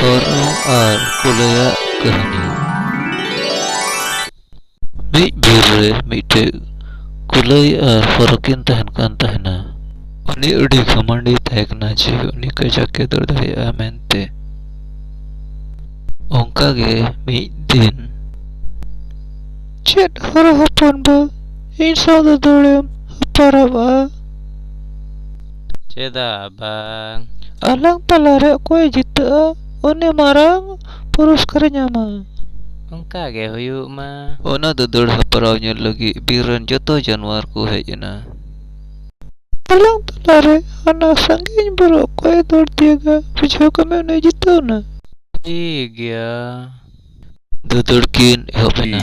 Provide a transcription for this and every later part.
ᱥᱚᱨᱱᱚ ᱟᱨ ᱠᱩᱞᱟᱹᱭᱟᱜ ᱠᱟᱹᱦᱱᱤ ᱢᱤᱫ ᱵᱤᱨ ᱨᱮ ᱢᱤᱫᱴᱮᱡ ᱠᱩᱞᱟᱹᱭ ᱟᱨ ᱦᱚᱨᱚ ᱠᱤᱱ ᱛᱟᱦᱮᱱ ᱠᱟᱱ ᱛᱟᱦᱮᱱᱟ ᱩᱱᱤ ᱟᱹᱰᱤ ᱜᱷᱟᱢᱟᱱᱰᱤ ᱛᱟᱦᱮᱸ ᱠᱟᱱᱟ ᱡᱮ ᱩᱱᱤ ᱠᱟᱡᱟᱠ ᱮ ᱫᱟᱹᱲ ᱫᱟᱲᱮᱭᱟᱜᱼᱟ ᱢᱮᱱᱛᱮ ᱚᱱᱠᱟ ᱜᱮ ᱢᱤᱫ ᱫᱤᱱ ᱪᱮᱫ ᱦᱚᱨᱚ ᱦᱚᱯᱚᱱ ᱵᱟ ᱤᱧ ᱥᱟᱶ ᱫᱚ ᱫᱟᱹᱲᱮᱢ ᱦᱟᱯᱟᱨᱟᱵᱼᱟ ᱪᱮᱫᱟᱜ ᱵᱟᱝ? ᱟᱞᱟᱝ ᱛᱟᱞᱟ ᱨᱮ ᱚᱠᱚᱭᱮ ᱡᱤᱛᱟᱹᱜᱼᱟ ᱩᱱᱤ ᱢᱟᱨᱟᱝ ᱯᱩᱨᱚᱥᱠᱟᱨᱮ ᱧᱟᱢᱟ᱾ ᱚᱱᱠᱟ ᱜᱮ ᱦᱩᱭᱩᱜ ᱢᱟ᱾ ᱚᱱᱟ ᱫᱩᱫᱟᱹᱲ ᱦᱮᱯᱨᱟᱣ ᱧᱮᱞ ᱞᱟᱹᱜᱤᱫ ᱵᱤᱨ ᱨᱮᱱ ᱡᱚᱛᱚ ᱡᱟᱱᱣᱟᱨ ᱠᱚ ᱦᱮᱡ ᱮᱱᱟ᱾ ᱟᱞᱟᱝ ᱛᱟᱞᱟ ᱨᱮ ᱦᱟᱱᱟ ᱥᱟᱺᱜᱤᱧ ᱵᱩᱨᱩ ᱚᱠᱚᱭᱮ ᱫᱟᱹᱲ ᱛᱤᱭᱟᱹᱜᱟ ᱵᱩᱡᱷᱟᱹᱣ ᱠᱟᱜ ᱢᱮ ᱩᱱᱤᱭ ᱡᱤᱛᱟᱹᱣ ᱮᱱᱟ᱾ ᱴᱷᱤᱠ ᱜᱮᱭᱟ᱾ ᱫᱩᱫᱟᱹᱲ ᱠᱤᱱ ᱮᱦᱚᱵ ᱮᱱᱟ᱾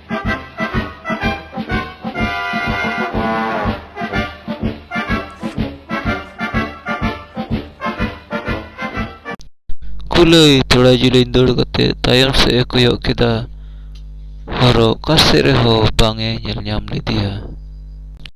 ᱠᱩᱞᱟᱹᱭ ᱛᱷᱚᱲᱟ ᱡᱤᱞᱤᱧ ᱫᱟᱹᱲ ᱠᱟᱛᱮ ᱛᱟᱭᱚᱢ ᱥᱮᱫ ᱮ ᱠᱚᱭᱚᱜ ᱠᱮᱫᱟ ᱦᱚᱨᱚ ᱚᱠᱟ ᱥᱮᱫ ᱨᱮᱦᱚᱸ ᱵᱟᱝ ᱮ ᱧᱮᱞ ᱧᱟᱢ ᱞᱮᱫᱮᱭᱟ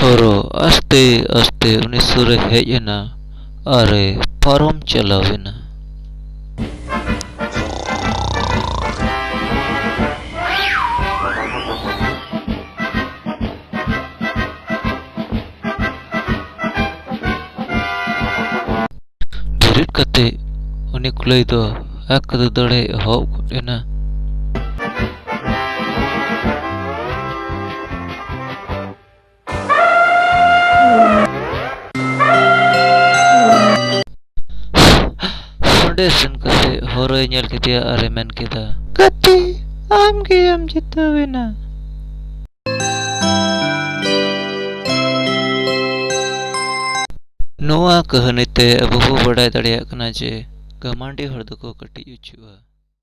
ᱦᱚᱨᱚ ᱟᱥᱛᱮ ᱟᱥᱛᱮ ᱩᱱᱤ ᱥᱩᱨ ᱮ ᱦᱮᱡ ᱮᱱᱟ ᱟᱨ ᱮ ᱯᱟᱨᱚᱢ ᱪᱟᱞᱟᱣ ᱮᱱᱟ᱾ ᱵᱮᱨᱮᱫ ᱠᱟᱛᱮ ᱩᱱᱤ ᱠᱩᱞᱟᱹᱭ ᱫᱚ ᱟᱠ ᱫᱟᱹᱫᱟᱹᱲᱮ ᱮᱦᱚᱵ ᱜᱚᱫ ᱮᱱᱟ ᱚᱸᱰᱮ ᱥᱮᱱ ᱠᱟᱛᱮ ᱦᱚᱨᱚᱭ ᱧᱮᱞ ᱠᱮᱫᱮᱭᱟ ᱟᱨᱮ ᱢᱮᱱ ᱠᱮᱫᱟ ᱜᱟᱛᱮ ᱟᱢ ᱜᱮᱭᱟᱢ ᱡᱤᱛᱟᱹᱣᱮᱱᱟ ᱱᱚᱣᱟ ᱠᱟᱹᱦᱱᱤ ᱛᱮ ᱟᱵᱚ ᱵᱚ ᱵᱟᱰᱟᱭ ᱫᱟᱲᱮᱭᱟᱜ ᱠᱟᱱᱟ ᱡᱮ ᱜᱟᱢᱟᱱᱰᱤ ᱦᱚᱲ ᱫᱚᱠᱚ ᱠᱟᱹᱴᱤᱡ ᱩᱪᱩᱜᱼᱟ